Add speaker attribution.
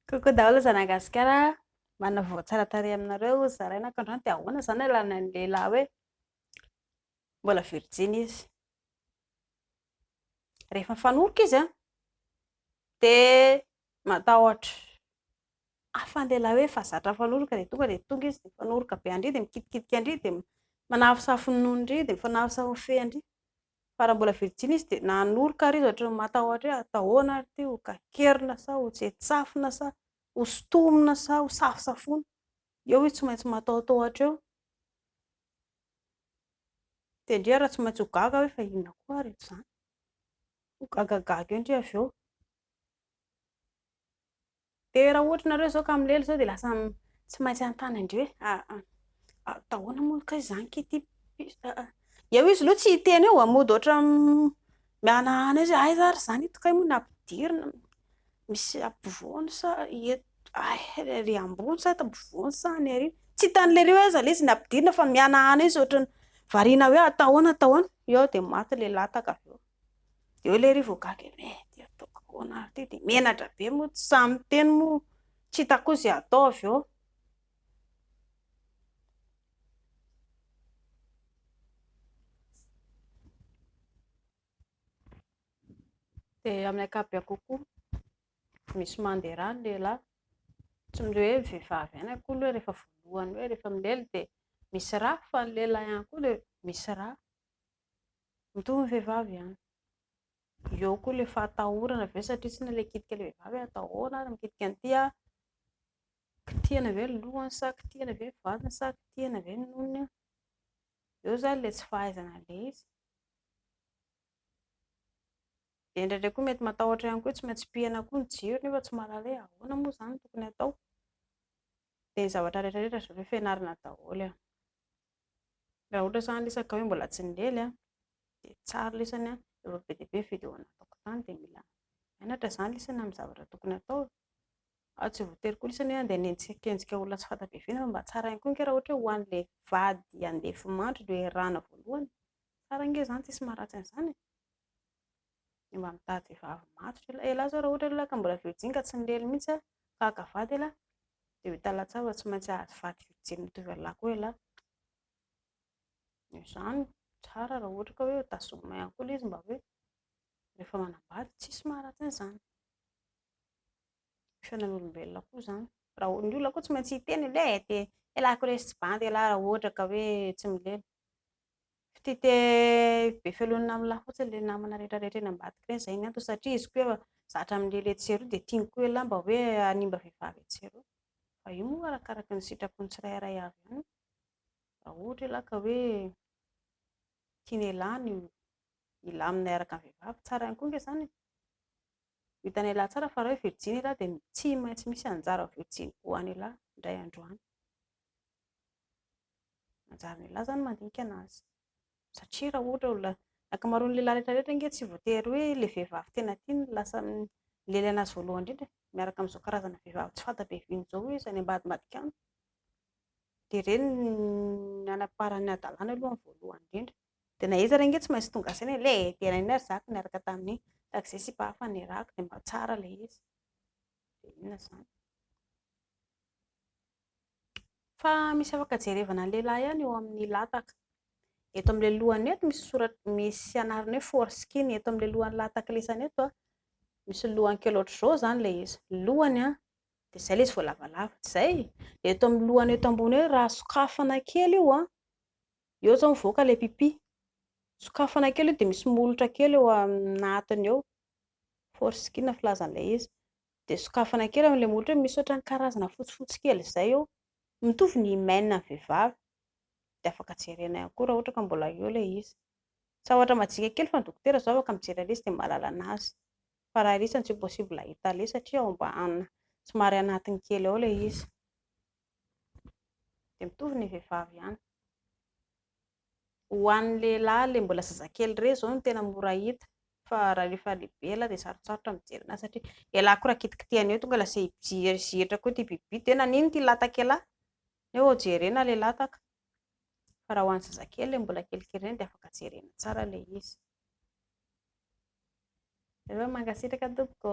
Speaker 1: Coucou daholo zanah gasikara manavao tsara tarehy aminareo ozy zaraina ko androany de ahoana zany alana ny lehilahy hoe mbola virjiny izy rehefa mifanoroka izy an de matahotra hafa ny lehilahy hoe efa zatra mifanoroka de tonga de tonga izy de mifanoroka be an-dry de mikitikitika an-dry de manafosafo ny nonon-dry de mifanafosafo ny fean-dry fa raha mbola virjiny izy dia nanoroka ary izy ohatry ny matahotra hoe hatao ahoana ary ity, ho kakerina sa ho tsetsafina sa ho sintomina sa ho safosafoina, eo izy tsy maintsy matahotahotra eo, dia ndry ary tsy maintsy ho gaga hoe fa inona koa ary izany, ho gagagaga eo ndry avy eo. Dia raha ohatra nareo zao ka milely zao dia lasa tsy maintsy hanontany an-dry hoe ah ah atao ahoana moa kay izany kay ity ah ah eo izy aloha tsy hiteny eo ah mody ohatra mihanahana izy hoe aiza ary izany ito kay moa ny ampidirina misy ampovoany sa eto ay ery ambony sa eto ampovoany sa any aoriana tsy hitan'le ry hoe aiza ilay izy ny ampidirina fa mihanahana izy ohatra ny variana hoe atao ahoana atao ahoana eo dia maty ilay lataka avy eo Dia hoe lery vao gaga hoe eh dia ataoko ahoana ary ity, dia menatra be moa tsy sahy miteny moa tsy hitako koa izay hatao avy eo. Dia amin'ny ankapobeny kokoa misy mandeha rà ny lehilahy, tsy ny hoe vehivavy ihany akory hoe rehefa voalohany hoe rehefa milely dia misy rà fa ny lehilahy ihany koa dia misy rà. Mitovy ny vehivavy ihany. Eo koa ilay fahatahorana ve satria tsy ilay mikitika ilay vehivavy hoe atao ahoana ary mikitika an'ity aho, kitihina ve ny lohany sa kitihina ve ny vatany sa kitihina ve ny nonony. Eo izany ilay tsy fahaizana an'ilay izy. Dia indraindray koa mety matahotra ihany koa hoe tsy maintsy pihina koa ny jiro nefa tsy mahalala hoe ahoana moa izany no tokony hatao. Dia ny zavatra rehetrarehetra izao efa ianarana daholo e. Raha ohatra zany resaka hoe mbola tsy nilely a, dia tsara lesany a, efa be dia be ny video nataoko tany dia mila mianatra zany lesany amin'ny zavatra tokony atao e, ary tsy voatery koa lesany hoe andeha hanenjikenjika olona tsy fanta be vina fa mba tsara ihany koa ange raha ohatra hoe ho an'ilay vady handeha hifimandry no iarahana voalohany, tsara ange zany tsisy maharatsy an'izany e. mba mitady vehivavy matotra elah, elah zao raha ohatra elah ka mbola virjiny ka tsy nilely mihitsy aho ka haka vady elah dia ho hita latsava tsy maintsy hahazo vady virjiny mitovy an'lah koa elah, noho izany tsara raha ohatra ka hoe ho tazomina ihany koa ilay izy mba hoe rehefa manambady tsisy maharatsy an'izany, ny fiainan'olombelona koa izany, raha ny olona koa tsy maintsy hiteny hoe eh, elah ko lesy tsy bandy elah raha ohatra ka hoe tsy milely Ftite be felonina aminy lahy fotsiny le namana rehetra rehetra eny ambadika reny zay ny antony satria izy koa efa zatra aminy le letsy eroa de tiany koa elah mba hoe hanimba vehivavy etsy eroa fa io moa arakaraky ny sitrapony tsirairay avy any raha ohatra elah ka hoe tiany elah ny hilamina hiaraka aminy vehivavy tsara ihany koa nge zany e ho hitany elah tsara fa raha hoe virjiny elah de tsy maintsy misy anjara virjiny ho any elah indray andro any Manjary ny lehilahy izany mandinika an'azy. Satria raha ohatra olona, ny ankamaroan'ny lehilahy rehetra rehetra ange tsy voatery hoe ilay vehivavy tena tiany no lasa milely an'azy voalohany indrindra e. Miaraka amin'izao karazana vehivavy tsy fanta be viny izao hoe izay any ambadimbadika any. Dia ireny ny hanamparany ny hadalany aloha ny voalohany indrindra. Dia na iza ary ange tsy maintsy tonga saina hoe ilay dia naninona ary zaka niaraka tamin'iny, tahaka izay sipa hafa nirahako dia mba tsara ilay izy. Dia inona izany? Fa misy afaka jerevana ny lehilahy ihany eo amin'ny lataka. Eto amin'ilay lohany eto misy soratra misy anarana hoe foreskin. Eto amin'ilay lohan'ny lataka lesany eto an, misy lohany kely ohatr'izao izany ilay izy. Ny lohany an, dia izay ilay izy vao lavalava. Tsy izay? Dia eto amin'ny lohany eto ambony hoe raha sokafana kely io an, eo izao mivoaka ilay pipi. Sokafana kely io dia misy molotra kely eo anatiny eo. Foreskin filazan'ilay izy. dia sokafana kely amin'ilay molotra hoe misy ohatran'ny karazana fotsifotsy kely izay eo, mitovy ny hymen an'ny vehivavy, dia afaka jerena ihany koa raha ohatra ka mbola eo ilay izy, tsy zavatra majika kely fa ny dokotera izao afaka mijery an'ilay izy dia mahalala an'azy, fa raha irery izany tsy possible hahita an'ilay izy satria ao ambany somary anatiny kely ao ilay izy, dia mitovy ny vehivavy ihany. Ho an'ny lehilahy le mbola zazakely re zao no tena mora hita fa raha rehefa lehibe elah dia sarotsarotra mijery anazy satria elah koa raha kitikitihana eo tonga lasa hijery koa ity bibibiby ity hoe nanino ity lataka elah neo jerena le lataka fa raha ho an'ny zazakely le mbola kelikely reny dia afaka jerena tsara le izy mankasitraka tompoko